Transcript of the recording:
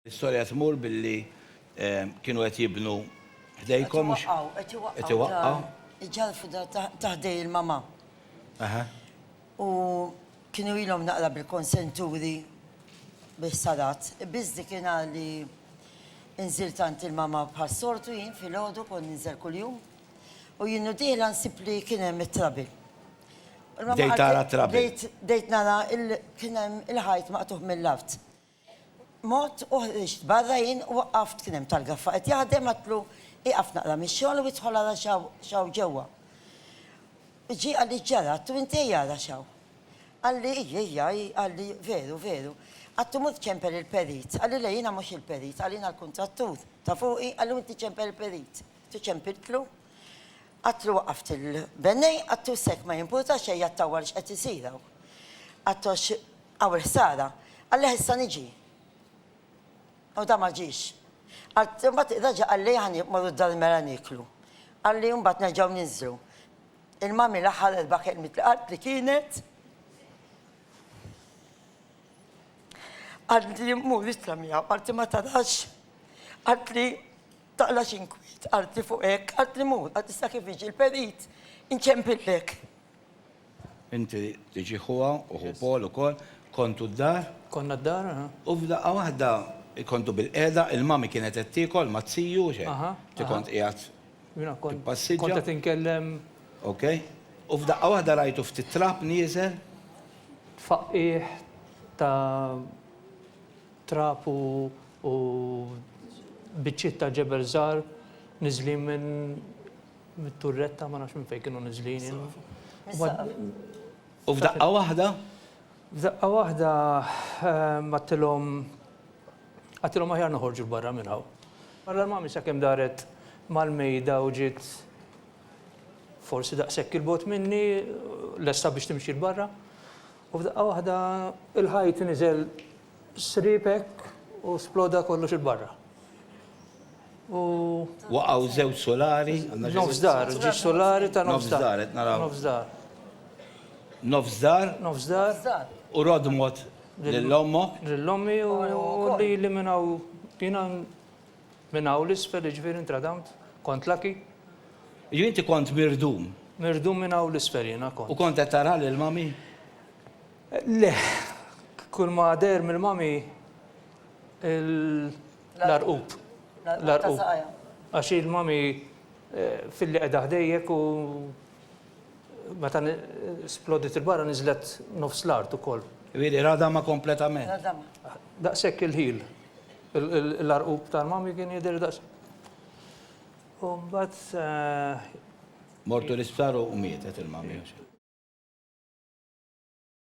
L-istorja tmur billi kienu qed jibnu ħdejkom. Qed iwaqqgħu, qed iwaqqgħu. Qed iwaqqgħu. Iġallfu dar ta' ħdej il-mama. Aha. U kienu ilhom naqra bil-konsenturi bil-ħsarat. Biss dik in-nhar li nżilt għand il-mama bħas-soltu jien filgħodu kont ninżel kuljum u jien u dieħla nsib li kien hemm it-trabi. Bdejt tara t-trabi. Bdejt nara kien hemm il-ħajt maqtugħ mill-art. mod u ħriġt barra jien u waqqaft kien hemm tal-gaffa qed jaħdem għedtlu ieqaf naqra mix-xogħol u idħol ara x'hawn x'hawn ġewwa. Ġie qalli x'ġara għedtu inti ejja ara x'hawn. Qalli ejja ejja hi qalli veru veru. Għedtu mur ċempel il-perit. Qalli le jiena mhux il-perit qalli jiena l-kuntrattur ta' fuqi qalli u inti ċempel il-perit. Għedtu ċempiltlu għedtlu waqqaft il-bennej għedtu s'hekk ma jimpurtax ejja ttawwal x'qed isir hawn. Għedtu għax Hawn il-ħsara. Qallieh issa niġi. U da ma ġiex. Qalt, imbagħad reġa' qalli ħa morru d-dar il-mera nieklu. Qalli imbagħad nerġgħu ninżlu. Il-mummy l-aħħar erba' kelmiet li qaltli kienet, qaltli mmur nitla' miegħu, qaltli ma tarax, qaltli taqlax inkwiet, qaltli fuq hekk, qaltli mur, qaltli sa kif jiġi l-perit inċempillek. Inti tiġi ħuha u ħu Paul ukoll. Kontu d-dar? Konna d-dar, aha. U f'daqqa waħda kontu bil-qiegħda, il-Mummy kienet qed tiekol ma' Ziju, hux hekk? Aha, aha. Inti kont qiegħed tippassiġġa. Kont qed inkellem. Ok. U f'daqqa waħda rajtu ftit trab nieżel? Tfaqqigħ ta' trab u biċċiet ta' ġebel żgħar niżlin minn mit-turretta ma nafx minn fejn kienu niżlin jien. U f'daqqa waħda? F'daqqa waħda għadtilhom għadtilhom aħjar noħorġu 'l barra minn hawn. Barra l-mami sakemm daret mal-mejda u ġiet forsi daqshekk 'il bogħod minni lesta biex timxi 'l barra. U f'daqqa waħda l-ħajt niżel Sriep hekk u sploda kollox 'il barra. U. Waqgħu żewġ sulari. Nofs dar, ġie sulari ta' nofs dar. Nofs dar, qed naraw. Nofs dar. Nofs dar. Nofs dar. U rodmot lil ommok. Lil ommi u lili minn hawn. Jiena minn hawn 'l isfel jiġifieri ntradamt, kont lucky. Jiġifieri inti kont mirdum. Mirdum minn hawn 'l isfel jiena kont. U kont qed tara lil mommy? Le, kull ma deher mill-mami l-għarqub. L-għarqub. Għax il-mami filli qiegħda ħdejjek u meta splodit il-barra niżlet nofs l-art ukoll. Ġifieri radama kompletament. Radama. Daqshekk il-ħil. L-għarqub tal-mami kien jidher daqs. U mbagħad. Mortu l-isptar u mietet il-mami.